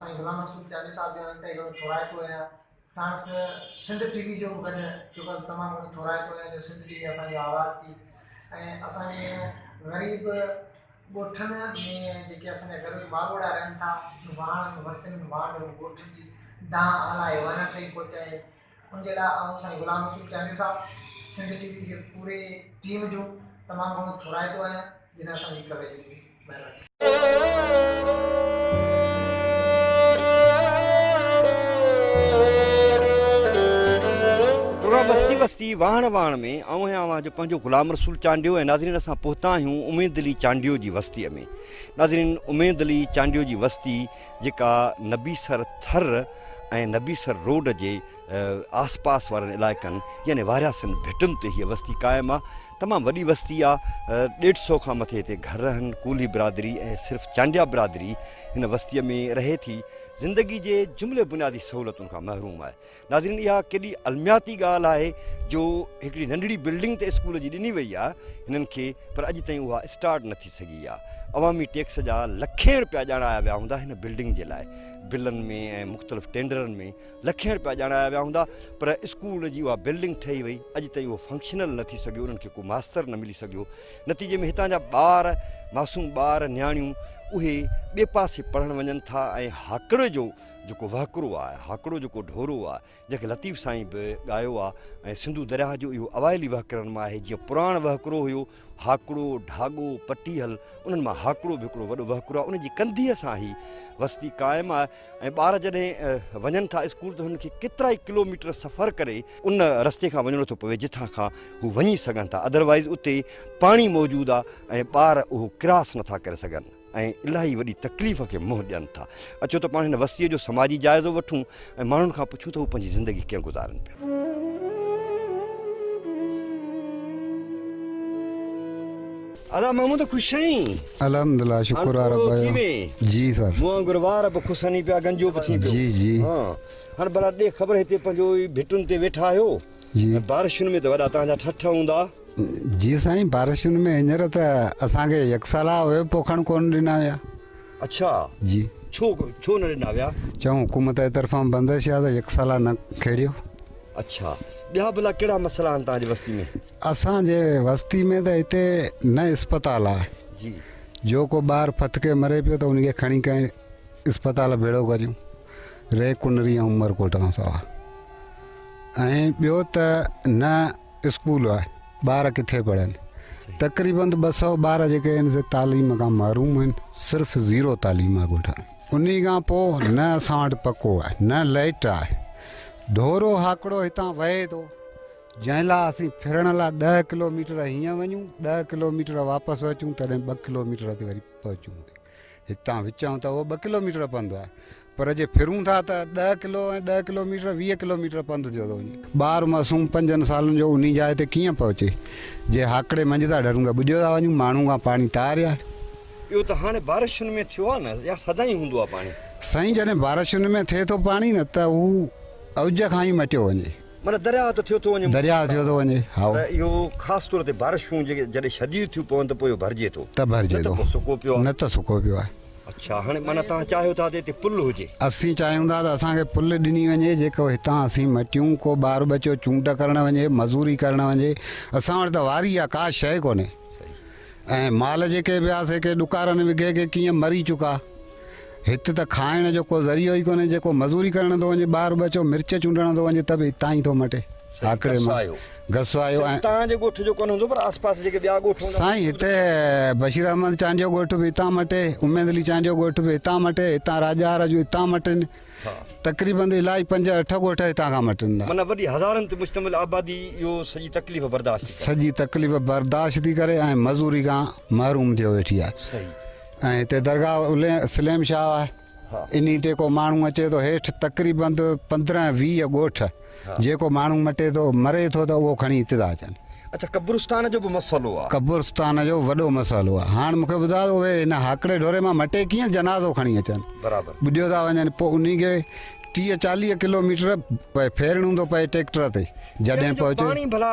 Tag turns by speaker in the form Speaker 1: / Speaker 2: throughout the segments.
Speaker 1: سائين غلام رسول چانڊيو صاحب جو انتهائي گهڻو ٿورائتو آهيان ساڻس سنڌ ٽي وي جو به گڏ چونڪه تمام گهڻو ٿورائتو آهيان جو سنڌ ٽي وي اسان جو آواز ٿي ۽ اسان جي هن غريب ڳوٺن ۾ جيڪي اسان جا غريب ماڳوڙا رهن ٿا واڻن وستين وانڍ ڳوٺن جي دانهن هلائي ورن تائين پهچائي ان جي لاء آئون سائين غلام رسول چانڊيو صاحب سنڌ
Speaker 2: ٽي وي جي پوري ٽيم جو تمام گهڻو ٿورائتو آهيان جن اسان جي ڪوريج ڏني مهرباني. پروگرام وستي وستي واهڻ واهڻ ۾ آئون آهيان اوهان جو پنهنجو غلام رسول چانڊيو ۽ ناظرين اسان پهتا آهيون اميد علي چانڊيو جي وستي ۾ ناظرين اميد علي چانڊيو جي وستي جيڪا نبيسر ٿر ۽ نبيسر روڊ جي آس پاس وارن علائقن يعني وارياسن ڀٽن تي هيء وستي قائم آ. تمام وڏي وستي آ. ڏيڍ سئو کان مٿي هتي گهر آهن. ڪولهي برادري ۽ صرف چانڊيا برادري هن وستيء ۾ رهي ٿي. زندگي جي جملي بنيادي سهولتن کان محروم آهي. ناظرين اها ڪيڏي المياتي ڳالهه آهي جو هڪڙي ننڍڙي بلڊنگ ته اسڪول جي ڏني وئي آهي هنن کي پر اڄ تائين اها اسٽارٽ نه ٿي سگهي آهي عوامي ٽيڪس جا لکين رپيا ڄاڻايا ويا هوندا هن بلڊنگ جي لاء بلن ۾ ۽ مختلف ٽينڊرن ۾ لکين رپيا ڄاڻايا ويا هوندا پر اسڪول جي اها بلڊنگ ٺهي وئي اڄ تائين اهو فنڪشنل نه ٿي سگهيو انهن کي ڪو ماستر نه ملي سگهيو نتيجي ۾ هتان جا ٻار معصوم ٻار نياڻيون اهي ٻي پاسي پڙهڻ وڃن ٿا ۽ هاڪڙ جو جيڪو وهڪرو آ، هاڪڙو جيڪو ڍورو آ، جنهن کي لطيف سائين به ڳايو آ ۽ سنڌو درياهه جو اهو اوائلي وهڪرن مان آهي جيئن پراڻ وهڪرو هيو، هاڪڙو، ڍاڳو، پٽيهل، انهن مان هاڪڙو به هڪڙو وڏو وهڪرو آ، ان جي ڪنڌيء سان هي وستي قائم آ ۽ ٻار جڏهن وڃن ٿا اسڪول ته هنن کي ڪيترائي ڪلو ميٽر سفر ڪري ان رستي کان وڃڻو ٿو پوي جتان کان هو وڃي سگهن ٿا ادروائيز اتي پاڻي موجود آ ۽ ٻار اهو ڪراس نٿا ڪري سگهن. ۽ الاهي وڏي تڪليف کي منهن ڏين ٿا. اچو ته پاڻ هن وستيء جو سماجي جائزو وٺون ۽ ماڻهن کان پڇون ته هو پنهنجي زندگي ڪيئن گذارن پيا. ادا مامو ته خوش آهين. الحمدلله شڪر
Speaker 3: آ رب جو. جي سر. مون وانگر وار به کسني
Speaker 2: پيا گنجو به ٿين پيو. جي جي. هان
Speaker 3: هاڻ
Speaker 2: ڀلا ڏي خبر هتي پنهنجو ئي ڀٽن تي ويٺا آهيو. جي بارشن
Speaker 3: ۾ ته وڏا
Speaker 2: تهان جا ٺٺ هوندا. جي سائين
Speaker 3: بارشن ۾ هينئر ته اسان کي يڪ سالها اهي پوکڻ ڪونه ڏنا ويا. اڇا
Speaker 2: جي ڇو
Speaker 3: ڇو نه
Speaker 2: ڏنا ويا؟ چون حڪومت جي
Speaker 3: طرفان بندش آ ته يڪ سالها نه کيڙيو. اڇا
Speaker 2: ٻيا ڀلا ڪهڙا مسئلا آهن تهان جي وستي ۾؟ اسان جي
Speaker 3: وستي ۾ ته هتي نه اسپتال آ جي جو
Speaker 2: ڪو ٻار
Speaker 3: ڦٿڪي مري پيو ته ان کي کڻي ڪنهن اسپتال ڀيڙو ڪريون ري ڪنري ۽ عمرڪوٽ کان سوا. ۽ ٻيو ته نه اسڪول آهي ٻار ڪٿي پڙهن تقريبن ٻه سؤ ٻار جيڪي آهن سي تعليم کان محروم آهن صرف زيرو تعليم آهي ڳوٺ ان کان پوء نه اسان وٽ پڪو آهي نه لائٽ آهي ڍورو هاڪڙو هتان وهي ٿو جنهن لاء اسين ڦرڻ لاء ڏهه ڪلوميٽر هيئن وڃون ڏهه ڪلوميٽر واپس اچون تڏهن ٻه ڪلوميٽر تي وري پهچون هتان وچان ته اهو ٻه ڪلوميٽر پنڌ آهي، پر جي ڦرون ٿا ته ڏهه ڪلو ۽ ڏهه ڪلوميٽر ويهه ڪلوميٽر پنڌ ٿيو ٿو وڃي. ٻار معصوم پنجن سالن جو انهي جاء تي ڪيئن پهچي، جي هاڪڙي منجهه ٿا ڍرون ته ٻڏيو ٿا وڃون، ماڻهو کان پاڻي طاري آهي. اهو ته
Speaker 2: هاڻي بارشن ۾ ٿيو آهي نه يا سدائين هوندو آهي پاڻي؟ سائين جڏهن بارشن
Speaker 3: ۾ ٿئي ٿو پاڻي نه ته هو اوج کان ئي مٽيو وڃي. معنيٰ درياهه ته ٿيو
Speaker 2: ٿو وڃي. درياهه ٿيو ٿو وڃي،
Speaker 3: هائو. پر اهو خاص طور
Speaker 2: تي بارشون جيڪي جڏهن شديد ٿيون پون ته پوء اهو ڀرجي ٿو. ته ڀرجي ٿو. نه ته پوء سڪو
Speaker 3: پيو آهي. نه ته سڪو
Speaker 2: پيو آهي.
Speaker 3: اڇا هاڻي معنيٰ
Speaker 2: توهان چاهيو ٿا ته هتي پل هجي. اسين چاهيون ٿا ته
Speaker 3: اسان کي پل ڏني وڃي جيڪو هتان اسين مٽيون ڪو ٻار ٻچو چونڊ ڪرڻ وڃي مزوري ڪرڻ وڃي اسان وٽ ته واري آهي ڪا شيء ڪونهي. صحيح. ۽ مال جيڪي به ها سي ڪي ڏڪارن وگهي ڪي ڪيئن مري چڪا. هت ته کائڻ جو ڪو ذريعو ئي ڪونهي، جيڪو مزوري ڪرڻ ٿو وڃي، ٻار ٻچو مرچ چونڊڻ ٿو وڃي ته به هتان ئي ٿو مٽي. آڪڙي مان غصو آيو ۽. توهان جي ڳوٺ جو ڪونه هوندو
Speaker 2: پر آس پاس جيڪي ٻيا ڳوٺ هوندا. سائين هتي
Speaker 3: بشير احمد چانڊيو ڳوٺ به هتان مٽي، اميد علي چانڊيو ڳوٺ به هتان مٽي، هتان راڄا هارا جون هتان مٽين. تقريبن الائي پنج اٺ ڳوٺ هتان کان مٽن ٿا. معنيٰ وڏي هزارن تي مشتمل
Speaker 2: آبادي اهو سڄي تڪليف برداشت ٿي ڪري. سڄي تڪليف برداشت ٿي ڪري ۽ مزوري کان محروم ٿيو ويٺي آهي. صحيح. ۽ هتي درگاهه سليم شاهه آهي. انهي تي ڪو ماڻهو اچي ٿو هيٺ تقريبن پندرهن ويهه ڳوٺ. جيڪو ماڻهو مٽي ٿو، مري ٿو ته اهو کڻي ابتدا اچن. اڇا قبرستان جو به مسئلو آ. قبرستان جو وڏو مسئلو
Speaker 3: آ. هاڻ مونکي ٻڌاء ته اهي هن هاڪڙي ڍوري مان مٽي ڪيئن جنازو کڻي اچن. برابر. ٻڏيو ٿا
Speaker 2: وڃن پوء
Speaker 3: انهي کي ٽيهه چاليهه ڪلو ميٽر ڦيرڻو ٿو پئي ٽيڪٽر تي جڏهن پهچي. پيئڻ جو پاڻي
Speaker 2: ڀلا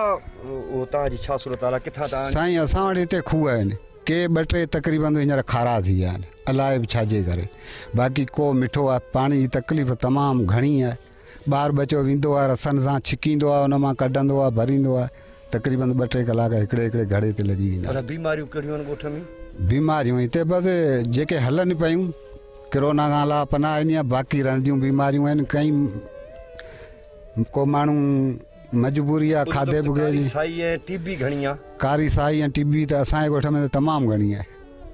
Speaker 3: هتان
Speaker 2: جي ڇا
Speaker 3: صورت
Speaker 2: حال آ ڪٿان
Speaker 3: ٿا
Speaker 2: آڻين.
Speaker 3: سائين اسان وٽ
Speaker 2: هتي
Speaker 3: کوهه آهن
Speaker 2: ڪي
Speaker 3: ٻه ٽي تقريبن هينئر کارا ٿي ويا آهن الائي به ڇا جي ڪري باقي ڪوهه مٺو آ پاڻي جي تڪليف تمام گهڻي آ. ٻار ٻچو ويندو آهي رسن سان ڇڪيندو آهي ان مان ڪڍندو آهي ڀريندو آهي تقريبن ٻه ٽي ڪلاڪ هڪڙي هڪڙي گهڙي تي لڳي ويندا آهن.
Speaker 2: بيماريون ڪهڙيون آهن ڳوٺ ۾؟
Speaker 3: بيماريون هتي بس جيڪي هلن پيون ڪرونا کان علاوه پناهه ڏينهن آهي باقي رهنديون بيماريون آهن ڪئين ڪو ماڻهو مجبوري آهي کاڌي پڪي جي ٽي بي گهڻي آهي
Speaker 2: ڪاري سائي ۽ ٽي بي
Speaker 3: ته اسان جي ڳوٺ ۾ ته تمام گهڻي آهي.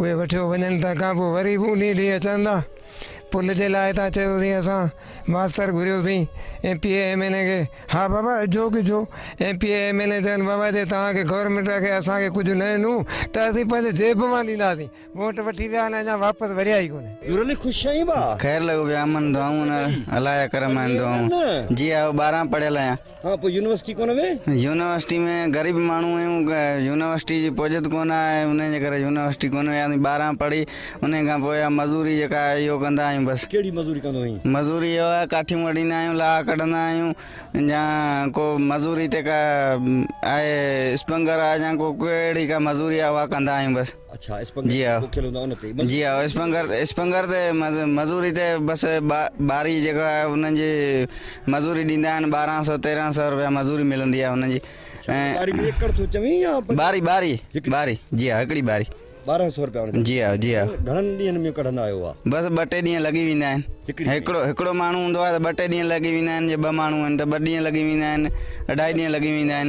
Speaker 4: اهي وٺيو وڃن تنهن کان پوء وري به انهي ڏينهن اچن ٿا پل جي لاء تان چيوسين اسان ماستر گهريوسين M P A M N A کي ها بابا اجهو ڪجهو M P A M N A چون بابا جي توهان کي گورنمينٽ کي اسان کي ڪجهه نه ڏنو ته اسين پنهنجي جيب مان ڏينداسين ووٽ وٺي ويا آهن اڃا واپس وريا ئي ڪونه.
Speaker 2: خير لڳو پيا امن
Speaker 5: دعائون نه الاهيا ڪرم آهن دعائون جي آء ٻارهن پڙهيل آهيان. ها
Speaker 2: پوء يونيورسٽي ڪونه وين؟ يونيورسٽي ۾
Speaker 5: غريب ماڻهو آهيون يونيورسٽي جي پهجت ڪونه آهي انهي جي ڪري يونيورسٽي ڪونه وياسين ٻارهن پڙهي انهي کان پوء اها مزوري جيڪا آهي اهو ڪندا آهيون بس. ڪهڙي
Speaker 2: مزوري ڪندو آهين؟ مزوري اهو آهي ڪاٺيون
Speaker 5: وڍيندا آهيون لاها ڪڍندا آهيون يا ڪو مزوري تي ڪا آهي اسپنگر آهي يا ڪو ڪهڙي ڪا مزوري آهي اها ڪندا آهيون بس. جي ها جي ها اسپنگر اسپنگر تي مزوري تي بس ٻاري جيڪا آهي انهن جي مزوري ڏيندا آهن ٻارهن سو تيرهن سو روپيا مزوري ملندي آهي انهن جي
Speaker 2: ۽ ٻاري ٻاري
Speaker 5: ٻاري جي ها هڪڙي ٻاري ٻارهن سو روپيا
Speaker 2: جي ها جي ها
Speaker 5: گهڻن ڏينهن ۾
Speaker 2: ڪڍندا آهيو بس ٻه ٽي ڏينهن لڳي
Speaker 5: ويندا آهن هڪڙو هڪڙو ماڻهو هوندو آهي ته ٻه ٽي ڏينهن لڳي ويندا آهن جي ٻه ماڻهو آهن ته ٻه ڏينهن لڳي ويندا آهن اڍائي ڏينهن لڳي ويندا آهن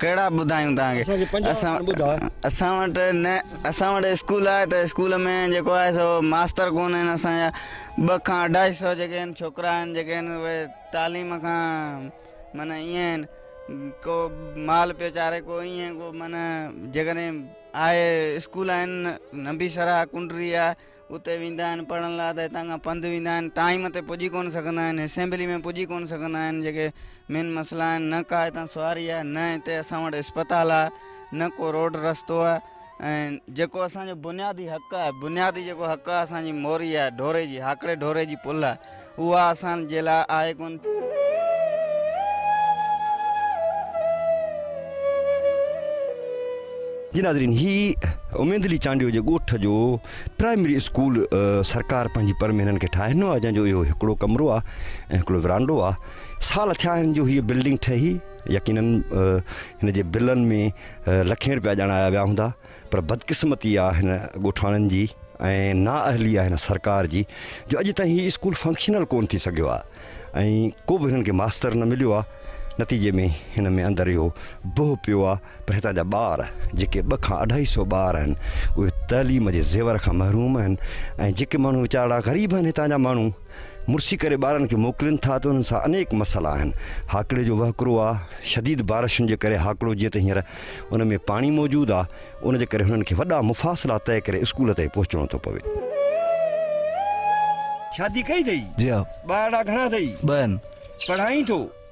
Speaker 5: ڪهڙا ٻڌايون توهان کي اسان کي پنج اسان وارن ٻڌاء. اسان وٽ نه اسان وٽ اسڪول آهي ته اسڪول ۾ جيڪو آهي سو ماستر ڪونه آهن اسان جا ٻه کان اڍائي سو جيڪي آهن ڇوڪرا آهن جيڪي آهن اهي تعليم کان معنی ائين آهن ڪو مال پيو چاري ڪو ائين ڪو معنی جيڪڏهن آهي اسڪول آهن نبي سرا ڪنڊري آهي اتي ويندا آهن پڙهڻ لاء ته هتان کان پنڌ ويندا آهن ٽائيم تي پڄي ڪونه سگهندا آهن اسيمبلي ۾ پڄي ڪونه سگهندا آهن جيڪي مين مسئلا آهن نه ڪا هتان سواري آهي نه هتي اسان وٽ اسپتال آهي نه ڪو روڊ رستو آهي ۽ جيڪو اسانجو بنيادي حق آهي بنيادي جيڪو حق آهي اسانجي موري آهي ڍوري جي هاڪڙي ڍوري جي پل آهي اها اسان جي لاء آهي ڪونه.
Speaker 2: جي ناظرين هي اميد علي چانڊيو جي ڳوٺ جو پرائمري اسڪول سرڪار پنهنجي پر ۾ هنن کي ٺاهي ڏنو آهي جنهن جو اهو هڪڙو ڪمرو آهي ۽ هڪڙو ورانڊو آهي سال ٿيا آهن جو هي بلڊنگ ٺهي يقينن هن جي بلن ۾ لکين روپيا ڄاڻايا ويا هوندا پر بدقسمتي آ هن ڳوٺاڻن جي ۽ نااهلي آ هن سرڪار جي جو اڄ تائين هي اسڪول فنڪشنل ڪون ٿي سگهيو آ ۽ ڪو به هنن کي ماستر نه مليو آ نتيجي ۾ هن ۾ اندر اهو بهه پيو آ پر هتان جا ٻار جيڪي ٻه کان اڍائي سئو ٻار آهن اهي تعليم جي زيور کان محروم آهن ۽ جيڪي ماڻهو ويچارڙا غريب آهن هتان جا ماڻهو مرسي ڪري ٻارن کي موڪلين ٿا ته انهن سان انيڪ مسئلا آهن. هاڪڙي جو وهڪرو آ، شديد بارشن جي ڪري هاڪڙو جيئن ته هينئر ان ۾ پاڻي موجود آ، ان جي ڪري هنن کي وڏا مفاصلا طئي ڪري اسڪول تائين پهچڻو ٿو پوي. شادي ڪئي اٿئي؟ جي ها. ٻارڙا
Speaker 6: گهڻا
Speaker 2: اٿئي؟ ٻه آهن. پڙهائين ٿو؟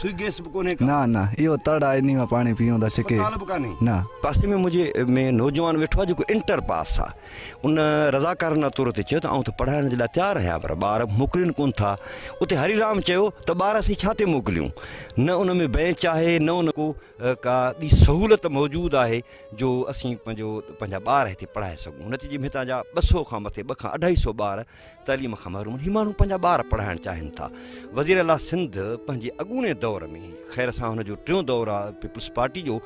Speaker 2: سوئي گيس
Speaker 6: به ڪونهي
Speaker 2: ڪا. نه نه اهو تڙ
Speaker 6: آهي انهي مان پاڻي پيئون ٿا ڇڪي. اسپتال به ڪانهي. نه.
Speaker 2: پاسي ۾ منهنجي ۾ نوجوان ويٺو آهي جيڪو انٽر پاس آهي. ان رضاڪارانه طور تي چيو ته آئون ته پڙهائڻ جي لاء تيار آهيان پر ٻار موڪلين ڪونه ٿا. اتي هري رام چيو ته ٻار اسين ڇا تي موڪليون؟ نه ان ۾ بينچ آهي نه ان. ڪو ڪا ٻي سهولت موجود آهي جو اسين پنهنجو پنهنجا ٻار هتي پڙهائي سگهون. نتيجي ۾ هتان جا ٻه سئو کان مٿي ٻه کان اڍائي سئو ٻار تعليم کان محروم هي ماڻهو پنهنجا ٻار پڙهائڻ چاهين ٿا وزير اعليٰ سنڌ پنهنجي اڳوڻي دور ۾ خير سان هن جو ٽيون دور آهي پيپلز پارٽي جو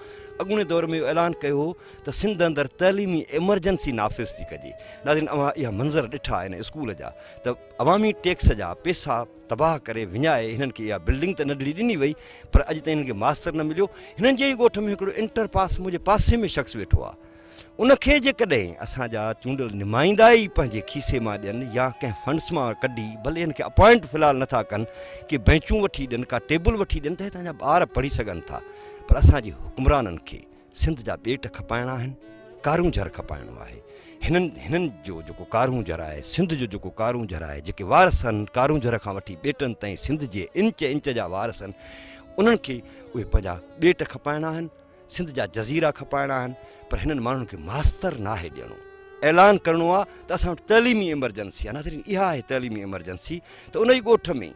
Speaker 2: اڳوڻي دور ۾ اعلان ڪيو هو ته سنڌ اندر تعليمي ايمرجنسي نافذ ٿي ڪجي ناظرين اوهان اها منظر ڏٺا آهن اسڪول جا ته عوامي ٽيڪس جا پيسا تباهه ڪري وڃائي هنن کي اها بلڊنگ ته ننڍڙي ڏني وئي پر اڄ تائين هنن کي ماستر نه مليو هنن جي ئي ڳوٺ ۾ هڪڙو انٽر پاس منهنجي پاسي ۾ شخص ويٺو آهي ان کي جيڪڏهن اسان جا چونڊيل نمائندا ئي پنهنجي کيسي مان ڏين يا ڪنهن فنڊس مان ڪڍي ڀلي ان کي اپوائنٽ في الحال نٿا ڪن ڪي بينچون وٺي ڏين ڪا ٽيبل وٺي ڏين ته هتان جا ٻار پڙهي سگهن ٿا پر اسان جي حڪمرانن کي سنڌ جا ٻيٽ کپائڻا آهن ڪارون جھر کپائڻو آهي هنن هنن جو جيڪو ڪارون جھر آهي سنڌ جو جيڪو ڪارون جھر آهي جيڪي وارث آهن ڪارون جھر کان وٺي ٻيٽن تائين سنڌ جي انچ انچ جا وارث آهن انهن کي اهي پنهنجا ٻيٽ کپائڻا آهن سنڌ جا جزيرا کپائڻا آهن پر هنن ماڻهن کي ماستر ناهي ڏيڻو اعلان ڪرڻو آهي ته اسان وٽ تعليمي ايمرجنسي آهي ناظرين اها آهي تعليمي ايمرجنسي ته ان ئي ڳوٺ ۾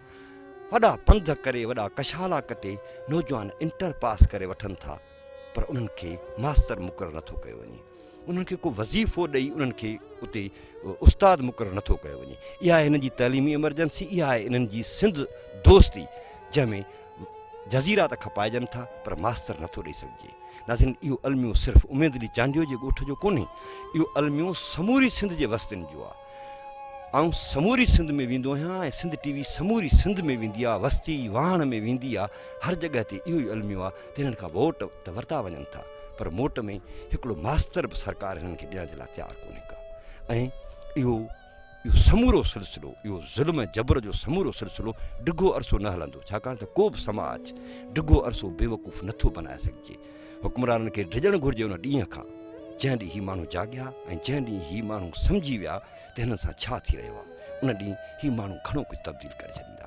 Speaker 2: وڏا پنڌ ڪري وڏا ڪشالا ڪٽي نوجوان انٽر پاس ڪري وٺن ٿا پر انهن کي ماستر مقرر نٿو ڪيو وڃي انهن کي ڪو وظيفو ڏئي انهن کي اتي استاد مقرر نٿو ڪيو وڃي اها آهي هنن جي تعليمي ايمرجنسي اها آهي انهن جي سنڌ دوستي جنهن ۾ جزيرا ته کپائجن ٿا پر ماستر نٿو ڏئي سگهجي. ناظرين اهو الميو صرف اميد علي چانڊيو جي ڳوٺ جو ڪونهي اهو الميو سموري سنڌ جي وستين جو آ. آئون سموري سنڌ ۾ ويندو آهيان ۽ سنڌ ٽي وي سموري سنڌ ۾ ويندي آ وستي واهڻ ۾ ويندي آ هر جڳهه تي اهو ئي الميو آ ته هنن کان ووٽ ته ورتا وڃن ٿا پر موٽ ۾ هڪڙو ماستر به سرڪار هنن کي ڏيڻ جي لاء تيار ڪونهي ڪا ۽ اهو اهو سمورو سلسلو، اهو ظلم ۽ جبر جو سمورو سلسلو ڊگهو عرصو نه هلندو، ڇاڪاڻ ته ڪو به سماج ڊگهو عرصو بيوقوف نه ٿو بنائي سگهجي. حڪمرانن کي ڊڄڻ گهرجي ان ڏينهن کان، جنهن ڏينهن هي ماڻهو جاڳيا ۽ جنهن ڏينهن هي ماڻهو سمجهي ويا ته هنن سان ڇا ٿي رهيو آهي. ان ڏينهن هي ماڻهو گهڻو ڪجهه تبديل ڪري ڇڏيندا.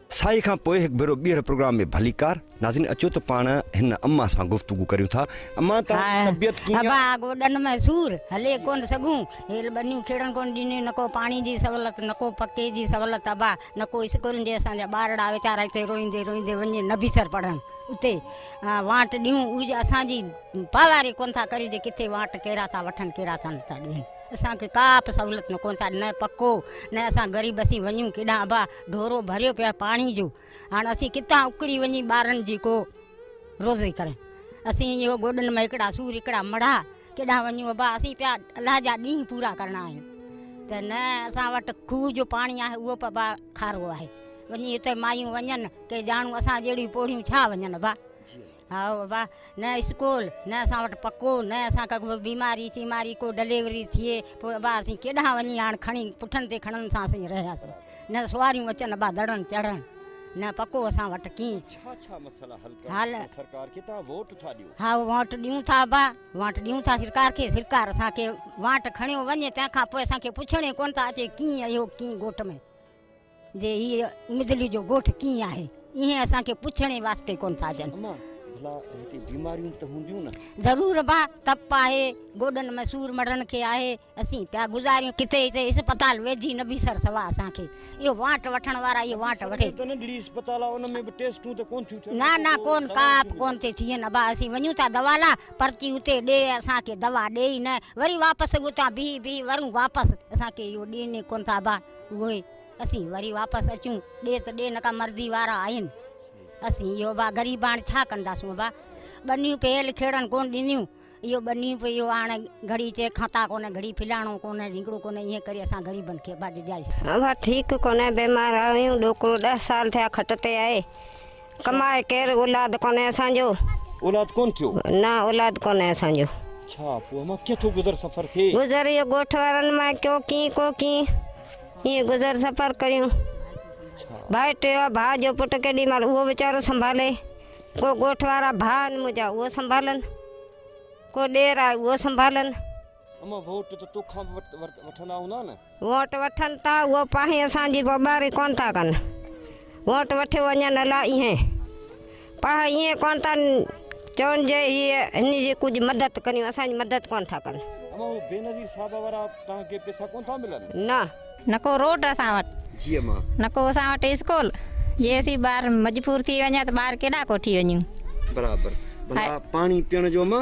Speaker 2: سائي کان پوء هڪ ڀيرو ٻيهر پروگرام ۾ ڀليڪار ناظرين اچو ته پاڻ هن اما سان گفتگو ڪريون ٿا اما توهان جي طبيعت ڪيئن ابا گوڏن ۾
Speaker 7: سور هلي ڪونه سگهون هيل ٻنيون کيڙڻ ڪونه ڏنيون نه ڪو پاڻي جي سهولت نه ڪو پڪي جي سهولت ابا نه ڪو اسڪولن جي اسان جا ٻارڙا ويچارا هتي روئيندي روئيندي وڃي نبيسر پڙهن اتي وانٽ ڏيون اهي اسان جي پاواري ڪونه ٿا ڪري جي ڪٿي وانٽ ڪهڙا ٿا وٺن ڪهڙا ٿا نه ٿا ڏين اسان کي ڪا به سهولت نه ڪونه ٿا نه پڪو نه اسان غريب اسين وڃون ڪيڏانهن ابا ڍورو ڀريو پيو آهي پاڻي جو هاڻ اسين ڪٿان اڪري وڃي ٻارن جي ڪو روزي ڪرين اسين اهو گوڏن ۾ هڪڙا سور هڪڙا مڙها ڪيڏانهن وڃون ابا اسين پيا الله جا ڏينهن پورا ڪرڻا آهن ته نه اسان وٽ کوهه جو پاڻي آهي اهو ابا کارو آهي وڃي اتي مايون وڃن ڪي ڄاڻون اسان جهڙيون پوڙهيون ڇا وڃن ابا هاء ابا! نه اسڪول، نه اسان وٽ پکو، نه اسان کي ڪو بيماري شيماري، ڪو ڊليوري ٿئي، پوء ابا اسين ڪيڏانهن وڃي هاڻ کڻي پٺن تي کڻن سان اسين رهياسين. نه سواريون اچن ابا دڙن چڙهن، نه پکو اسان وٽ ڪي. ڇا ڇا مسئلا حل ڪرڻ لاء سرڪار کي توهان ووٽ ٿا ڏيو؟ هاء ووٽ ڏيون ٿا ابا، ووٽ ڏيون ٿا سرڪار کي، سرڪار اسان کي ووٽ کڻيو وڃي تنهن کان پوء اسان کي پڇڻ ئي ڪونه ٿا اچي ڪي اهو ڪي ڳوٺ ۾. جي هي مدلي جو ڳوٺ ڪيئن آهي ايئن اسان کي پڇڻ ئي واسطي ڪونه ٿا اچن. اما ڀلا
Speaker 2: هتي بيماريون ته هونديون نه؟ ضرور ابا تپ
Speaker 7: آهي گوڏن ۾ سور مڙهڻ کي آهي اسين پيا گذاريون ڪٿي هتي اسپتال ويجهي نه بيسر سوا اسان کي اهو وانٽ وٺڻ وارا اهو وانٽ وٺي ته ننڍڙي اسپتال آهي
Speaker 2: ان ۾ به ٽيسٽون ته ڪونه ٿيون ٿين نه نه ڪونه ڪا به
Speaker 7: ڪونه ٿي ٿين ابا اسين وڃون ٿا دوا لا پرچي اتي ڏي اسان کي دوا ڏي ئي نه وري واپس اتان بيهي بيهي ورون واپس اسان کي اهو ڏين ئي ڪونه ٿا ابا. اهي اسين وري واپس اچون ڏي ته ڏي نڪا مرضي وارا آهن اسين اهو با غريباڻ ڇا ڪنداسون با ٻنيون پيل کيڙن ڪون ڏنيون اهو ٻنيون پي اهو هاڻ گھڙي چي کانتا ڪونه گھڙي فلاڻو ڪونه ڍينگڙو ڪونه ايئن ڪري اسان غريبن کي با ڊڄائي ڇڏيو. اها ٺيڪ ڪونه
Speaker 8: بيمار آهيون ڏوڪرو ڏهه سال ٿيا کٽ تي آهي. ڪماء ڪير اولاد ڪونهي اسان جو. اولاد ڪونه ٿيو.
Speaker 2: نه اولاد ڪونهي
Speaker 8: اسان جو. ڇا پوء امان
Speaker 2: ڪيئن ٿو گذر سفر ٿئي. گذر اهو ڳوٺ وارن
Speaker 8: مان ڪيو ڪين ڪو ڪين ائين گذر سفر ڪيون. ڀائي ٽيو ڀاء جو پٽ ڪيڏي مهل اهو ويچارو سنڀالي ڪو ڳوٺ وارا ڀاء آهن منهنجا اهو سنڀالن ڪو ڏير آهي اهو سنڀالن. اما ووٽ
Speaker 2: ته توکان به وٺندا هوندا نه؟ ووٽ وٺن ته
Speaker 8: اهو پاهين اسان جي پٻاري ڪونه ٿا ڪن. ووٽ وٺيو وڃن الا ايهين پاهه ايهين ڪونه ٿا چون جي هي هني جي ڪجهه مدد ڪريون اسان جي مدد ڪونه ٿا ڪن. اما هو بينظير
Speaker 2: صاحب وارا توهان کي پيسا ڪونه ٿا ملن؟ نه. نه ڪو روڊ
Speaker 8: اسان وٽ.
Speaker 9: جي اما. نه ڪو
Speaker 2: اسان وٽ
Speaker 9: اسڪول. جي اسين ٻار مجبور ٿي وڃان ته ٻار ڪيڏانهن ڪو ٺي وڃون. برابر.
Speaker 2: ڀلا پاڻي پيئڻ جو اما؟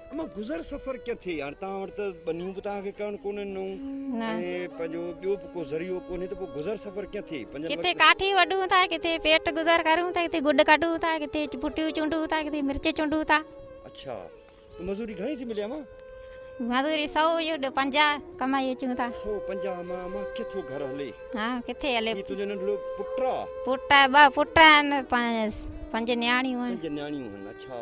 Speaker 9: اما گذر
Speaker 2: سفر ڪٿي هاڻي توهان وٽ ته ٻنيون به توهان کي ڪرڻ ڪونهن نون ۽ پنهنجو ٻيو به ڪو ذريعو ڪونهي ته پوء گذر سفر ڪيئن ٿئي ڪٿي ڪاٺي
Speaker 9: وڍون ٿا ڪٿي پيٽ گذر ڪرون ٿا ڪٿي گڏ ڪڍون ٿا ڪٿي پٽيون چونڊون ٿا ڪٿي مرچ چونڊون ٿا اچھا
Speaker 2: مزوري گھڻي ٿي ملي اما مزوري
Speaker 9: 100 جو 50 ڪمائي اچون ٿا 150 اما اما
Speaker 2: ڪٿو گھر هلي ها ڪٿي هلي
Speaker 9: هي تنهنجو ننڍڙو پٽا
Speaker 2: پٽا ٻه پٽا
Speaker 9: آهن پنج نياڻيون آهن پنج نياڻيون آهن اچھا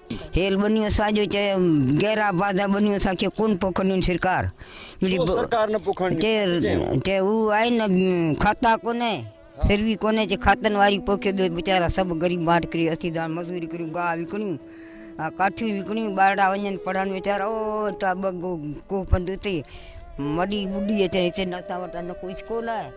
Speaker 9: هيل ٻنيون
Speaker 8: ساڄو چيو گهرا بادا ٻنيون سا کي ڪون پوکنين سرڪار ملي سرڪار
Speaker 2: نه پوکنين چي هو
Speaker 8: آئي نه کاتا ڪونه سروي ڪونه چي کاتن واري پوکي ٻي بچارا سڀ غريب ماٽ ڪري اسي دان مزوري ڪري گاهه وڪڻيون ڪاٺيون وڪڻيون ٻارڙا وڃن پڙهن ويچارا او تا بگو ڪو پندوتي مڏي ٻڏي اچي هتي نه تا وٽا نه ڪو اسڪول آهي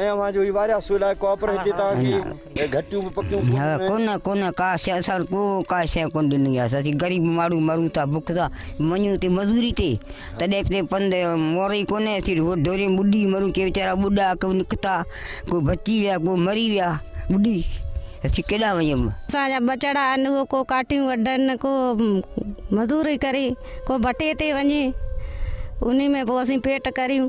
Speaker 8: ۽ اوهان جوهي واريا
Speaker 2: سو لاء ڪوپر هتي توهان کي گهٽيون به پڪيون ڪونه آهن. ڪونه ڪونه ڪا
Speaker 8: شي اسان ڪو ڪا شي ڪونه ڏني آهي اسين غريب ماڻهو مرون ٿا بک سان وڃون تي مزوري تي تڏهن اتي پنڌ مور ئي ڪونه اسين ڍوري ۾ ٻڏي مرون ڪي ويچارا ٻڏا ڪو نڪتا ڪو بچي ويا ڪو مري ويا ٻڏي اسين ڪيڏانهن وڃون. اسان جا ٻچڙا
Speaker 10: آهن اهي ڪو ڪاٺيون وڍن ڪو مزوري ڪري ڪو ڀٽي تي وڃي انهي ۾ پوء اسين پيٽ ڪريون.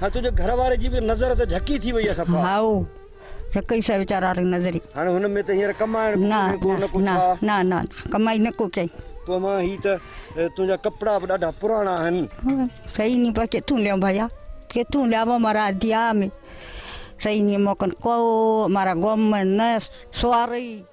Speaker 8: هاڻ تنهنجي گهر
Speaker 2: واري جي به نظر ته جهڪي ٿي وئي آهي صفا. هائو،
Speaker 8: جهڪئي سئي ويچارا ري نظري. هاڻ هن ۾ ته هينئر
Speaker 2: ڪمائڻ به ڪونهي ڪو نه ڪو ڇا.
Speaker 8: نه نه نه ڪمائي نه ڪو ڪيائين. تو مان هي ته
Speaker 2: تنهنجا ڪپڙا به ڏاڍا پراڻا آهن. سئي ني پر
Speaker 8: ڪٿون ليون ڀيا ڪٿون ليون امارا ديا ۾ سئي ني موڪن ڪو امارا گوم ۾ نه سوارئي.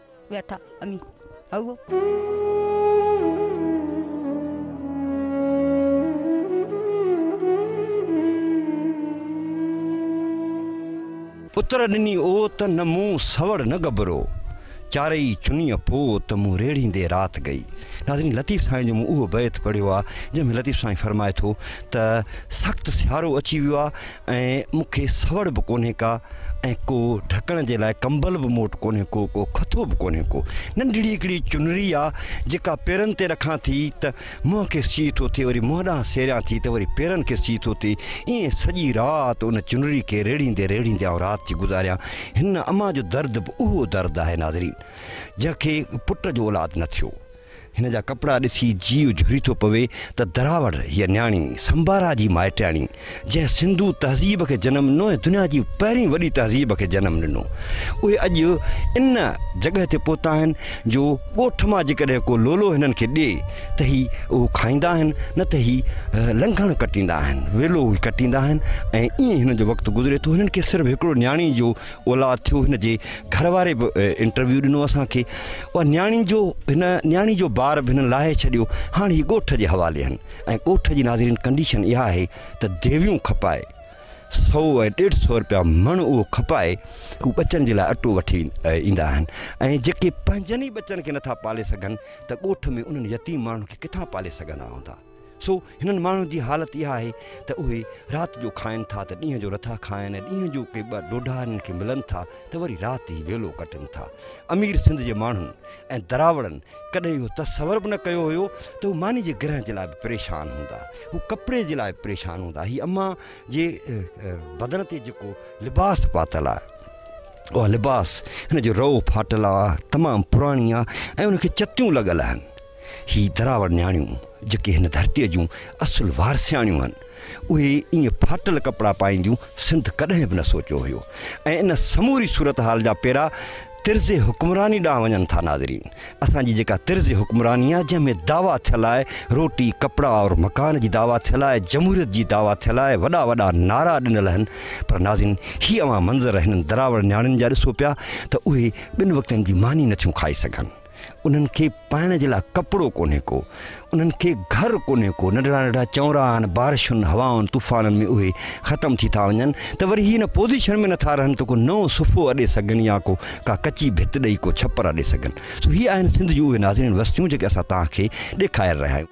Speaker 8: ويٺا امي هئو.
Speaker 2: اتر ڏني اوت نه مون سوڙ نه گبرو چارئي چنيء پوت مون ريڙهيندي رات گئي. ناظرين لطيف سائين جو مون اهو بيت پڙهيو آهي جنهن ۾ لطيف سائين فرمائي ٿو ته سخت سيارو اچي ويو آهي ۽ مون کي سوڙ به ڪونهي ڪا ۽ ڪو ڍڪڻ جي لاء ڪمبل به موٽ ڪونهي ڪو ڪو کٿو به ڪونهي ڪو ننڍڙي هڪڙي چنري آ جيڪا پيرن تي رکان ٿي ته منهن کي سيء ٿو ٿئي وري منهن ڏانهن سيريان ٿي ته وري پيرن کي سيء ٿو ٿئي ائين سڄي رات ان چنري کي ريڙهيندي ريڙهيندي آئون رات ٿي گذاريان هن امان جو درد به اهو درد آهي ناظرين جنهن کي پٽ جو اولاد نه ٿيو هن جا ڪپڙا ڏسي جيء جهري ٿو پوي ته دراوڙ هيء نياڻي سنبارا جي مائٽياڻي، جنهن سنڌو تهذيب کي جنم ڏنو ۽ دنيا جي پهرين وڏي تهذيب کي جنم ڏنو، اهي اڄ ان جڳهه تي پهتا آهن جو ڳوٺ مان جيڪڏهن ڪو لولو هنن کي ڏئي ته هي اهو کائيندا آهن نه ته هي لنگهڻ ڪٽيندا آهن، ويلو هي ڪٽيندا آهن ۽ ائين هنن جو وقت گذري ٿو، هنن کي صرف هڪڙو نياڻي جو اولاد ٿيو هن جي گهر واري به انٽرويو ڏنو اسان کي اها نياڻي جو هن نياڻي جو بار به هن لاهي ڇڏيو هاڻ هي ڳوٺ جي حوالي آهن ۽ ڳوٺ جي ناظرين ڪنڊيشن اها آهي ته ديويون کپائي سو ۽ ڏيڍ سو روپيا مڻ اهو کپائي هو ٻچن جي لاء اٽو وٺي ايندا آهن ۽ جيڪي پنهنجن ئي ٻچن کي نٿا پالي سگهن ته ڳوٺ ۾ انهن يتيم ماڻهن کي ڪٿان پالي سگهندا هوندا سو هنن ماڻهن جي حالت اها آهي ته اهي رات جو کائن ٿا ته ڏينهن جو نٿا کائن ۽ ڏينهن جو ڪي ٻه ڏوڍا هنن کي ملن ٿا ته وري رات جي ويلو ڪٽن ٿا. امير سنڌ جي ماڻهن ۽ دراوڙن ڪڏهن اهو تصور به نه ڪيو هيو ته هو ماني جي گرهه جي لاء به پريشان هوندا، هو ڪپڙي جي لاء به پريشان هوندا. هي اما جي بدن تي جيڪو لباس پاتل آهي اها لباس هن جو رئو ڦاٽل آهي، تمام پراڻي آهي ۽ ان کي چتيون لڳل آهن. هي دراوڙ نياڻيون جيڪي هن ڌرتيء جون اصل وارثياڻيون هن، اهي ائين ڦاٽل ڪپڙا پائينديون سنڌ ڪڏهن به نه سوچيو هيو ۽ ان سموري صورتحال جا پيرا طرز حڪمراني ڏانهن وڃن ٿا ناظرين اسان جي جيڪا طرز حڪمراني آهي جنهن ۾ دعويٰ ٿيل آهي روٽي ڪپڙا اور مڪان جي دعويٰ ٿيل آهي جمهوريت جي دعويٰ ٿيل آهي وڏا وڏا نعرا ڏنل هن پر ناظرين هي اوهان منظر هنن دراوڙ نياڻين جا ڏسو پيا ته اهي ٻن وقتن جي ماني نٿيون کائي سگهن انهن کي پائڻ جي لاء ڪپڙو ڪونهي ڪو، انهن کي گهر ڪونهي ڪو، ننڍڙا ننڍڙا چونرا آهن، بارشن، هوائن، طوفانن ۾ اهي ختم ٿي ٿا وڃن ته وري هي ان پوزيشن ۾ نٿا رهن ته ڪو نئون صفحو اڏي سگهن يا ڪو ڪا ڪچي ڀت ڏئي ڪو ڇپر اڏي سگهن. سو هي آهن سنڌ جون اهي ناظرين وستيون جيڪي اسان توهان کي ڏيکاري رهيا آهيون.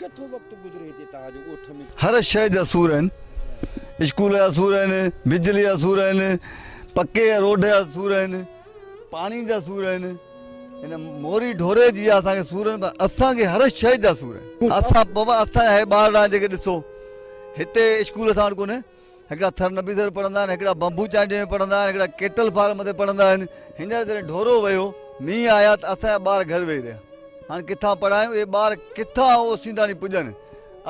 Speaker 6: ڪٿو وقت گذري هتي توهان جو ڳوٺ ۾. هر شيء جا سور آهن. اسڪول جا سور آهن، بجلي جا سور آهن، پڪي روڊ جا سور آهن، پاڻي جا سور آهن. هن موري ڍوري جي اسان کي سور آهن پر اسان کي هر شيء جا سور آهن. اسان بابا اسان جا هي ٻارڙا جيڪي ڏسو هتي اسڪول اسان وٽ ڪونهي. هڪڙا ٿر نبي ٿر پڙهندا آهن هڪڙا بمبو چانڊيو ۾ پڙهندا آهن هڪڙا ڪيٽل فارم تي پڙهندا آهن هينئر جڏهن ڍورو ويو مينهن آيا ته اسان جا ٻار گهر ويهي رهيا هاڻ ڪٿان پڙهايون اهي ٻار ڪٿان او سينداڻي پڄن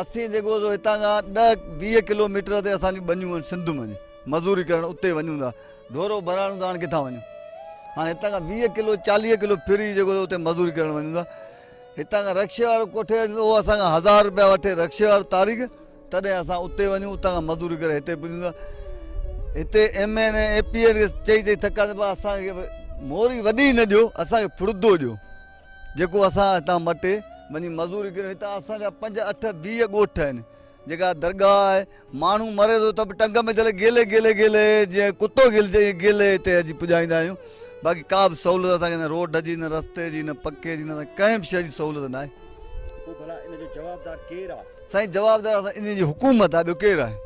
Speaker 6: اسين جيڪو سو هتان کان ڏهه ويهه ڪلوميٽر تي اسان جون ٻنيون آهن سنڌ ۾ مزوري ڪرڻ اتي وڃون ٿا ڍورو ڀرائڻو ته هاڻ ڪٿان وڃون هاڻي هتان کان ويهه ڪلو چاليهه ڪلو ڦري جيڪو سو اتي مزوري ڪرڻ وڃون ٿا هتان کان رڪشي وارو ڪوٺي اچي اهو اسان کان هزار روپيا وٺي رڪشي وارو تاريخ تڏهن اسان اتي وڃون اتان کان مزوري ڪري هتي پڄون ٿا هتي M N A A P N کي چئي چئي ٿڪا ٿي پيا اسان کي موري وڏي نه ڏيو اسان کي ڦڙدو ڏيو جيڪو اسان هتان مٽي وڃي مزوري ڪريون هتان اسان جا پنج اٺ ويهه ڳوٺ آهن جيڪا درگاهه آهي ماڻهو مري ٿو ته به ٽنگ ۾ جل گيلي گيلي گيلي جيئن ڪتو گيلجي ائين گيلي هتي اچي پڄائيندا آهيون باقي ڪا به سهولت اسانکي نه روڊ جي نه رستي جي نه پکي جي نه ڪنهن به شيء جي سهولت نه آهي
Speaker 2: سائين جواب دار اسان
Speaker 6: انهي جي حڪومت آهي ٻيو ڪير آهي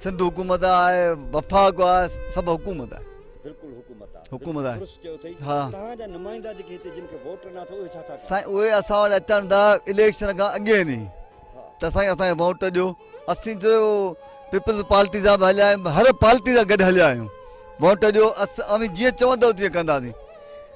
Speaker 6: سنڌ حڪومت آهي وفاق آهي سڀ حڪومت آهي. بلڪل حڪومت
Speaker 2: آهي حڪومت آهي درست چيو
Speaker 6: اٿئي ها توهان جا
Speaker 2: نمائندا جيڪي هتي جن کي ووٽ ڏنا اٿو اهي ڇا ٿا ڪن. سائين اهي اسان وٽ اچن
Speaker 6: ٿا اليڪشن کان اڳين ئي ته سائين اسان کي ووٽ ڏيو اسين جو پيپلز پارٽي سان به هليا آهيون هر پارٽي سان گڏ هليا آهيون ووٽ ڏيو اوهين جيئن چوندو تيئن ڪنداسين.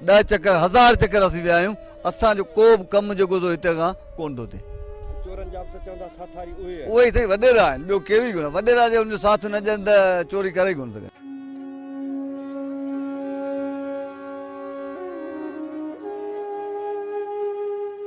Speaker 6: ڏهه چڪر هزار چڪر اسين ويا آهيون اسان جو ڪو به ڪم جيڪو سو هتي کان ڪون ٿو ٿئي چورن جا به
Speaker 2: چوندا ساٿاري اهي آهن اهي سائين وڏيرا
Speaker 6: آهن ٻيو ڪير ئي ڪونه وڏيرا جي ان جو ساٿ نه ڏين ته چوري ڪري ڪون سگهن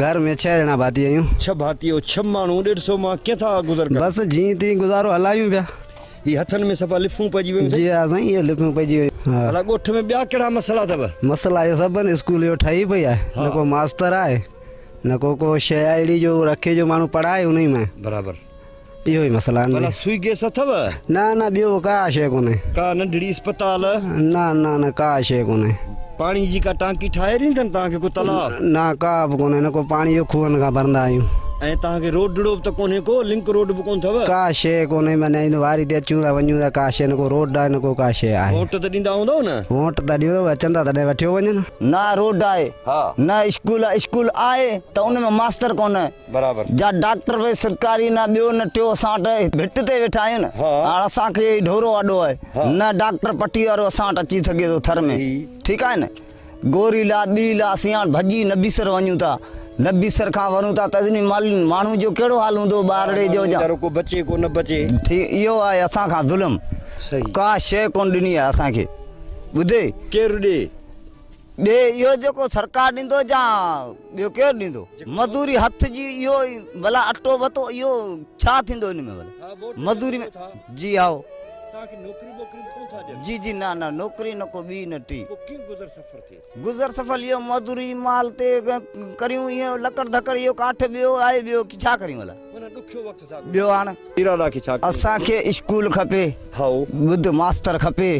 Speaker 2: گهر ۾ ڇهه ڄڻا
Speaker 11: ڀاتي آهيون. ڇهه ڀاتيو، ڇهه
Speaker 2: ماڻهو، ڏيڍ سئو مان ڪيئن ٿا گذر ڪن؟ بس جيئن تيئن گذارو
Speaker 11: هلايون پيا. هي هٿن ۾
Speaker 2: صفا لفون پئجي ويون اٿئي؟ جي ها سائين اهي لفون
Speaker 11: پئجي ويون آهن. ڀلا ڳوٺ ۾ ٻيا ڪهڙا
Speaker 2: مسئلا اٿو؟ مسئلا اهي سڀ آهن
Speaker 11: اسڪول اهو ٺهي پئي آهي نه ڪو ماستر آهي نه ڪو ڪو شيء آهي اهڙي جو رکي جو ماڻهو پڙهائي انهي مان. برابر. اهو
Speaker 2: ئي مسئلا آهن. ڀلا
Speaker 11: سوئي گيس اٿو؟
Speaker 2: نه نه ٻيو
Speaker 11: ڪا شيء ڪونهي. ڪا ننڍڙي اسپتال؟
Speaker 2: نه نه نه
Speaker 11: ڪا شيء ڪونهي. پاڻي جي ڪا
Speaker 2: ٽانڪي ٺاهي ڏيندن توهان کي ڪو تلاء؟ نه ڪا به ڪونهي
Speaker 11: نه ڪو پاڻي اهو کوهن کان ڀرندا آهيون. ۽ توهان کي روڊڙو
Speaker 2: به ته ڪونهي ڪو لنڪ روڊ به ڪونه اٿو؟ ڪا شيء ڪونهي
Speaker 11: معنيٰ ايندو واري تي اچون ٿا وڃون ٿا ڪا شيء نه ڪو روڊ آهي نه ڪو ڪا شيء آهي. ووٽ ته ڏيندا هوندؤ نه؟
Speaker 2: ووٽ ته ڏيون اچن
Speaker 11: ٿا تڏهن وٺيو وڃن. نه روڊ آهي
Speaker 5: نه اسڪول آهي اسڪول آهي ته ان ۾ ماستر ڪونهي. برابر. جا
Speaker 2: ڊاڪٽر ڀئي
Speaker 5: سرڪاري نه ٻيو نه ٽيو اسان وٽ هي ڀٽ تي ويٺا آهيون نه ها. هاڻ اسان کي هي ڍورو آڏو آهي ها. نه ڊاڪٽر پٽي وارو اسان وٽ اچي سگهي ٿو ٿر ۾ صحيح. ٺيڪ آهي نه گوري لا ٻي لا اسين هاڻ ڀڄي نبيسر وڃون ٿا نبيسر کان ورون ٿا ته اتني مال ماڻهو جو ڪهڙو حال هوندو ٻارڙي جو جا ويچارو ڪو بچي ڪو نه بچي.
Speaker 2: ٺي اهو آهي
Speaker 5: اسان کان ظلم صحيح. ڪا
Speaker 2: شيء ڪونه
Speaker 5: ڏني آهي اسان کي ٻڌي. ڪير ڏي
Speaker 2: ڏي اهو جيڪو
Speaker 5: سرڪار ڏيندو جا ٻيو ڪير ڏيندو مزوري هٿ جي اهو بلا اٽو وتو اهو ڇا ٿيندو ان ۾ مزوري ۾ جي هاو جي جي نه نه نوڪري نه ڪو ٻي نه ٽي گذر سفر ٿي گذر سفر اهو مزوري مال تي ڪريون اهو لڪڙ ڌڪڙ اهو ڪاٺ ٻيو آهي ٻيو ڇا ڪريون الا ٻيو آڻ اسان کي اسڪول کپي ٻڌ ماستر کپي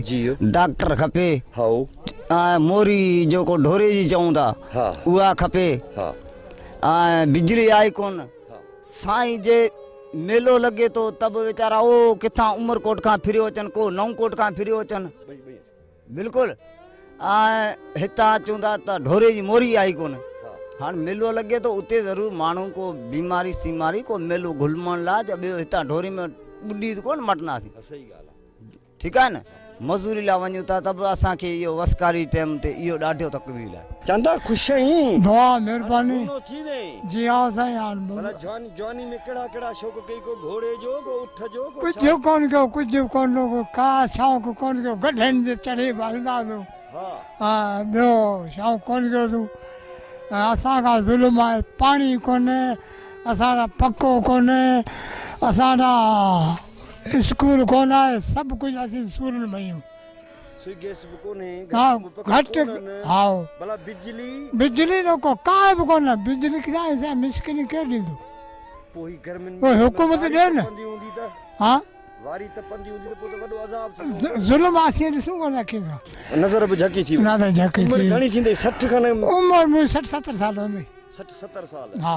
Speaker 5: ڊاڪٽر کپي ۽ موري جيڪو ڍوري جي چئون ٿا اها کپي ۽ بجلي آهي ڪون سائين جي ميلو لڳي ٿو ته به ويچارا او ڪٿان عمرڪوٽ کان ڦريو اچن ڪو نئون ڪوٽ کان ڦريو اچن بلڪل ۽ هتان اچون ٿا ته ڍوري جي موري آهي ڪونه هاڻ ميلو لڳي ٿو اتي ضرور ماڻهو ڪو بيماري سيماري ڪو ميلو گهلمڻ لاء جا ٻيو هتان ڍوري ۾ ٻڏي ته ڪونه مٽنداسين صحيح ڳالهه آهي ٺيڪ آهي نه مزوري لاء وڃون ٿا ته به اسان کي اهو وسڪاري ٽيم تي اهو ڏاڍو تڪميل آهي چاندا خوش آهين.
Speaker 2: دعا مھرباني جي ھا سائين ھاڻ جواني ۾ ڪهڙا ڪهڙا شوق ڪئي ڪو
Speaker 12: گهوڙي جو ڪو اٺ جو ڪو ڇا. ڪجهه ڪونه ڪيو ڪجهه ڪونه ڪو ڪا شوق ڪونه ڪيو گڏهن تي چڙهي به هلندا هيو ها ٻيو شوق ڪونه ڪيو سون ۽ اسان کان ظلم آهي پاڻي ڪونه اسان ڏانهن پکو ڪونه اسان ڏانهن اسڪول ڪونه آهي سڀ ڪجهه اسين سورن ۾ آهيون. گهٽ هائو
Speaker 2: بجلي
Speaker 12: جو ڪو ڪانء به ڪونه بجلي کسان سائين مسڪيني ڪير ڏيندو پوء
Speaker 2: حڪومت
Speaker 12: ڏي نه ها
Speaker 2: ظلم آسين ڏسون
Speaker 12: ورنه ڪين ٿا نظر به جهڪي
Speaker 2: ٿي نظر جهڪي ٿي عمر گهڻي
Speaker 12: ٿيندي 60
Speaker 2: کان عمر مون 60
Speaker 12: 70 سال هوندي 60 70 سال
Speaker 2: ها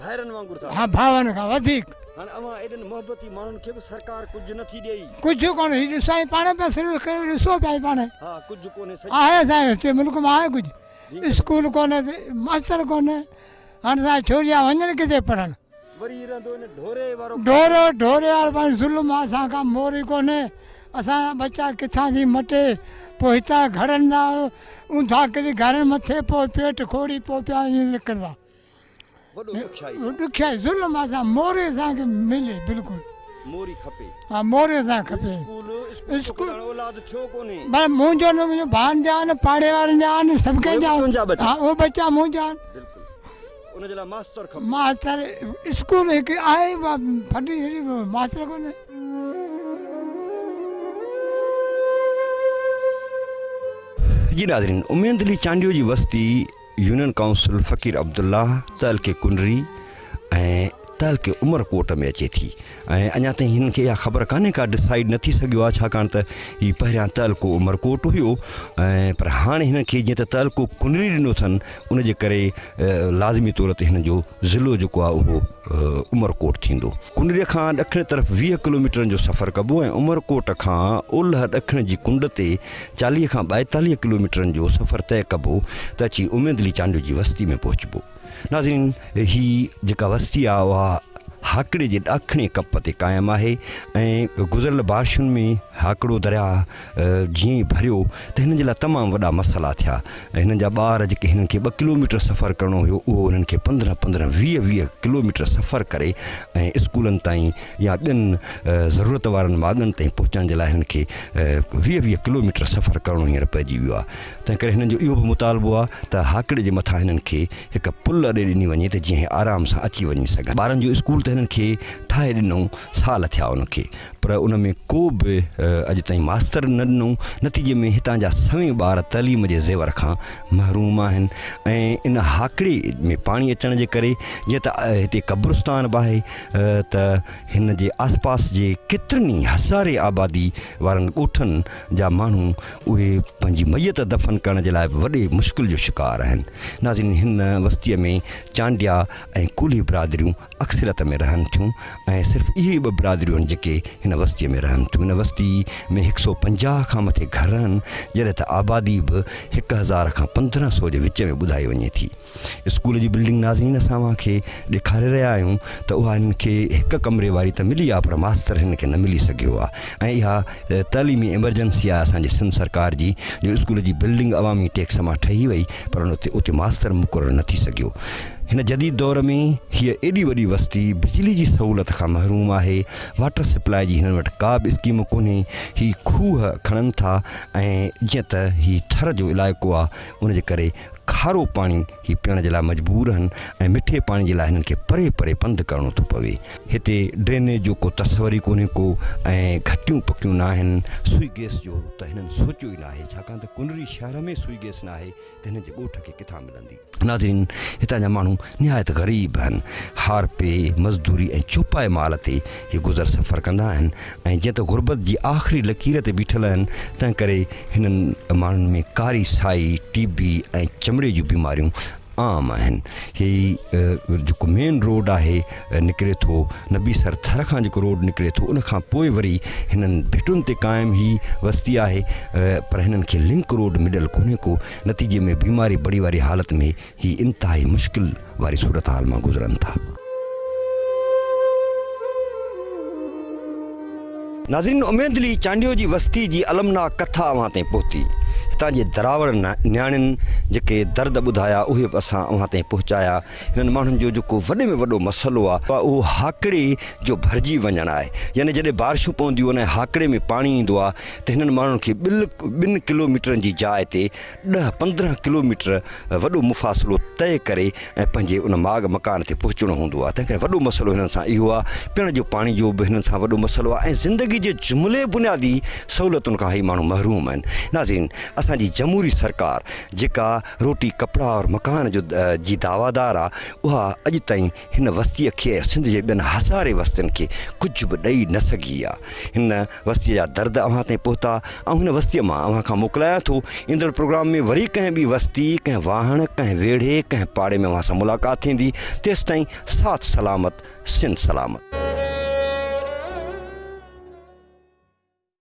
Speaker 12: ڀائرن وانگر
Speaker 2: ٿا. ها ڀائرن کان وڌيڪ.
Speaker 12: هاڻ اوهان ايڏن
Speaker 2: محبتي ماڻهن کي به سرڪار ڪجهه نه ٿي ڏئي. ڪجهه ڪونه هي ڏسائين
Speaker 12: پاڻهي پيا سروس ڪيو ڏسو پيا هي پاڻهي. ها ڪجهه ڪونه
Speaker 2: سڄي. آهي اسان هتي
Speaker 12: ملڪ مان آهي ڪجهه. اسڪول ڪونه تي ماستر ڪونه هاڻ اسان ڇوريا وڃن ڪٿي پڙهڻ. وري هي
Speaker 2: رهندو ان ڍوري وارو. ڍورو ڍوري وارو
Speaker 12: پاڻهي ظلم آهي اسان کان موري ڪونه اسان جا ٻچا ڪٿان ٿي مٽي پوء هتان گهڙندا اونداهه ڪري گهرن مٿي پوء پيٽ کوڙي پوء پيا ائين نڪرندا. ڏکيائي ظلم اسان موري اسان کي ملي بلڪل موري کپي
Speaker 2: ها موري اسان کي
Speaker 12: کپي اسڪول اسڪول
Speaker 2: اولاد ڇو ڪونهي بس مونجو نه مونجو
Speaker 12: بان جا نه پاڙي وارن جا نه سڀ کي جا ها او بچا مونجا بلڪل ان جي لا
Speaker 2: ماستر کپي ماستر
Speaker 12: اسڪول هڪ آهي ڦٽي جي ماستر ڪونهي
Speaker 2: جي ناظرين امين دلي چانڊيو جي وستي يونين ڪائونسل فقير عبدالله تعلقي ڪنري ۽ تعلقي عمرڪوٽ ۾ اچي ٿي ۽ اڃا تائين هنن کي اها خبر ڪانهي ڪا ڊسائيڊ نه ٿي سگهيو آهي ڇاڪاڻ ته هي پهريان تعلقو عمرڪوٽ هيو ۽ پر هاڻي هنن کي جيئن ته تعلقو ڪنري ڏنو اٿن ان جي ڪري لازمي طور تي هنن جو ضلعو جيڪو آهي اهو عمرڪوٽ ٿيندو ڪنري کان ڏکڻ طرف ويهه ڪلوميٽرن جو سفر ڪبو ۽ عمرڪوٽ کان اولهه ڏکڻ جي ڪنڊ تي چاليهه کان ٻائيتاليهه ڪلوميٽرن جو سفر طئه ڪبو ته اچي اميد علي چانڊيو جي وستي ۾ پهچبو. ناظرين! هي جيڪا وستي آهي اها هاڪڙي جي ڏاکڻي ڪپ تي قائم آهي ۽ گذريل بارشن ۾ هاڪڙو درياء جيئن ئي ڀريو ته هنن جي لاء تمام وڏا مسئلا ٿيا. هنن جا ٻار جيڪي هنن کي ٻه ڪلوميٽر سفر ڪرڻو هيو اهو هنن کي پندرهن پندرهن ويهه ويهه ڪلوميٽر سفر ڪري ۽ اسڪولن تائين يا ٻين ضرورت وارن ماڳن تائين پهچڻ جي لاء هنن کي ويهه ويهه ڪلوميٽر سفر ڪرڻو هينئر پئجي ويو آهي تنهنڪري هنن جو اهو به مطالبو آهي ته هاڪڙي جي مٿان هنن کي هڪ پل اڏي ڏني وڃي ته جيئن هي آرام سان اچي وڃي سگهن ٻارن جو اسڪول ته هنن کي ٺاهي ڏنو سال ٿيا ان کي پر ان ۾ ڪو به اڄ تائين ماستر نه ڏنو نتيجي ۾ هتان جا سوين ٻار تعليم جي زيور کان محروم آهن ۽ ان هاڪڙي ۾ پاڻي اچڻ جي ڪري جيئن ته هتي قبرستان به آهي ته هن جي آسپاس جي ڪيترن ئي هزارين آبادي وارن ڳوٺن جا ماڻهو اهي پنهنجي ميت دفن ڪرڻ جي لاء به وڏي مشڪل جو شڪار آهن. ناظرين هن وستيء ۾ چانڊيا ۽ ڪولهي برادريون اڪثريت ۾ رهن ٿيون ۽ صرف اهي ئي ٻه برادريون آهن جيڪي هن وستيء ۾ رهن ٿيون. هن وستي ۾ هڪ سئو پنجاهه کان مٿي گهر آهن جڏهن ته آبادي به هڪ هزار کان پندرهن سئو جي وچ ۾ ٻڌائي وڃي ٿي. اسڪول جي بلڊنگ ناظرين اسان اوهان کي ڏيکاري رهيا آهيون ته اها هن کي هڪ ڪمري واري ته ملي آهي پر ماستر هن کي نه ملي سگهيو آهي ۽ اها تعليمي ايمرجنسي آهي اسان جي سنڌ سرڪار جي جو اسڪول جي بلڊنگ عوامي ٽيڪس مان ٺهي وئي پر اتي ماستر مقرر نه ٿي سگهيو هن جديد دور ۾ هيء ايڏي وڏي وستي بجلي جي سهولت کان محروم آهي واٽر سپلاء جي هنن وٽ ڪا به اسڪيم ڪونهي هي کوهه کڻن ٿا ۽ جيئن ته هي ٿر جو علائقو آهي ان جي ڪري کارو پاڻي هي پيئڻ جي لاء مجبور آهن ۽ مٺي پاڻي جي لاء هنن کي پري پري پنڌ ڪرڻو ٿو پوي. هتي ڊرينيج جو ڪو تصور ئي ڪونهي ڪو ۽ گهٽيون پڪيون ناهن. سوئي گيس جو ته هنن سوچيو ئي ناهي ڇاڪاڻ ته ڪنري شهر ۾ سوئي گيس ناهي ته هنن جي ڳوٺ کي ڪٿان ملندي. ناظرين هتان جا ماڻهو نهايت غريب آهن. هارپي، مزدوري ۽ چوپائي مال تي هي گذر سفر ڪندا آهن. ۽ جيئن ته غربت جي آخري لڪير تي بيٺل آهن تنهن ڪري هنن ماڻهن ۾ ڪاري سائي، ٽي بي ۽ چمڙي جون بيماريون عام آهن. هي جيڪو مين روڊ آهي نڪري ٿو نبي سر ٿر کان جيڪو روڊ نڪري ٿو ان کان پوء وري هنن ڀٽن تي قائم هي وستي آهي پر هنن کي لنڪ روڊ مليل ڪونهي ڪو نتيجي ۾ بيماري بڙي واري حالت ۾ هي انتهائي مشڪل واري صورتحال مان گذرن ٿا. ناظرين اميدلي چانڊيو جي وستي جي المناڪ ڪٿا اوهان تائين پهتي. هتان جي دراوڙ نياڻين جيڪي درد ٻڌايا اهي به اسان اوهان تائين پهچايا. هنن ماڻهن جو جيڪو وڏي ۾ وڏو مسئلو آ. اهو هاڪڙي جو ڀرجي وڃڻ آهي. يعني جڏهن بارشون پونديون آهن ۽ هاڪڙي ۾ پاڻي ايندو آ ته هنن ماڻهن کي ٻن ڪلو ميٽرن جي جاء تي ڏهه پندرهن ڪلوميٽر وڏو مفاصلو طئي ڪري ۽ پنهنجي ان ماڳ مڪان تي پهچڻو هوندو آهي تنهن ڪري وڏو مسئلو هنن سان اهو آهي پيڻ جو پاڻي جو به هنن سان وڏو مسئلو آهي ۽ زندگي جي جملي بنيادي سهولتن کان هي ماڻهو محروم آهن ناظرين اسان جي جمهوري سرڪار جيڪا روٽي ڪپڙا اور مڪان جو جي دعويٰ دار آهي اها اڄ تائين هن وستيء کي ۽ سنڌ جي ٻين هزارين وستين کي ڪجهه به ڏئي نه سگهي آ. هن وستيء جا درد اوهان تائين پهتا. آئون هن وستيء مان اوهان کان موڪلايان ٿو. ايندڙ پروگرام ۾ وري ڪنهن ٻي وستي، ڪنهن واهڻ، ڪنهن ويڙهي، ڪنهن پاڙي ۾ اوهان سان ملاقات ٿيندي. تيستائين ساٿ سلامت، سنڌ سلامت.